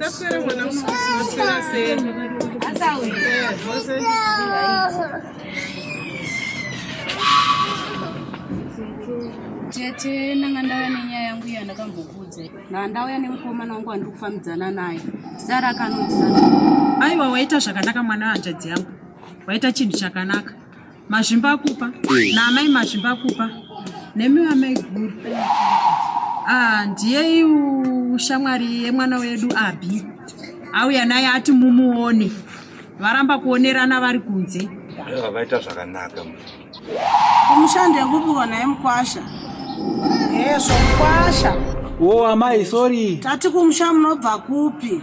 Taswera mwana maswera sei? Asawi. Tete nanga ndauya nenyaya yangu iya ndakambokuudza. Nanga ndauya nemukomana wangu wandiri kufambidzana naye. Sara akanudza. Aiwa waita zvakanaka mwana wanjadzi yangu. Waita chinhu chakanaka. Mazvimbakupa naamai Mazvimbakupa nemi amai guru ah, ndiye shamwari yemwana wedu Abhi auya naye ati mumuone varamba kuonerana vari kunze vaita zvakanaka kumushando yekupiwa naye mukwasha hezvo mukwasha wo amai sorry tati kumusha munobva kupi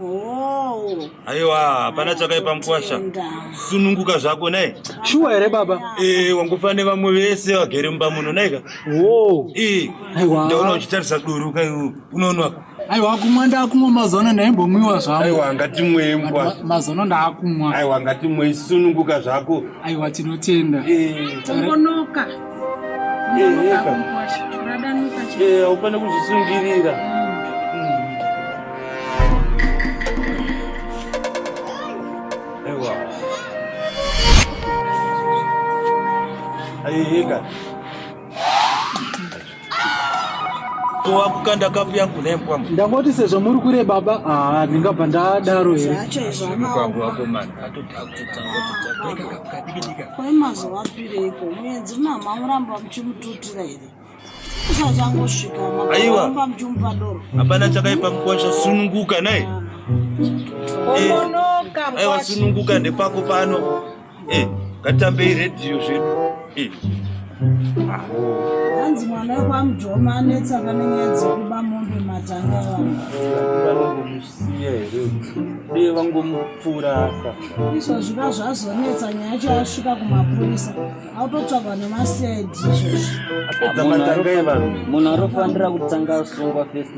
Oh. Aiwa, hapana chakaipa mkwasha. Sununguka zvako naye. Shuwa here baba? Eh, wangofane vamwe vese vagere mumba muno naika. Wo. Eh. Aiwa. Ndaona uchitarisa duru kai unoona. Aiwa kumwa ndakumwa mazono ndaimbomwiwa zvangu. Aiwa ngatimwe mkwa. Mazono ndakumwa. Aiwa ngatimwe sununguka zvako. Aiwa tinotenda. Eh. Tongonoka. haufane kuzvisungirira Aí, cara. wakukanda kapu yangu nembwa ndangoti sezvo muri kure baba haa ndingabva ndadaro here kwai mazuva apireiko muenzi mama muramba muchimututira here aiwa hapana chakaipa mukosha sununguka naye aiwa sununguka ndepako pano Eh, katambei radio zvedu. Eh. Hanzi mwana wako amujoma anetsa pane nyaya dzekuba mombe matanga vanhu. Vanomusiya here? Dei vangomupfura apa. Izvo zviba zvazonetsa nyaya yacho yasvika kumapurisa. Autotsvagwa nemaCID izvozvi. Apedza matanga evanhu. Munhu arofanira kutanga asungwa first.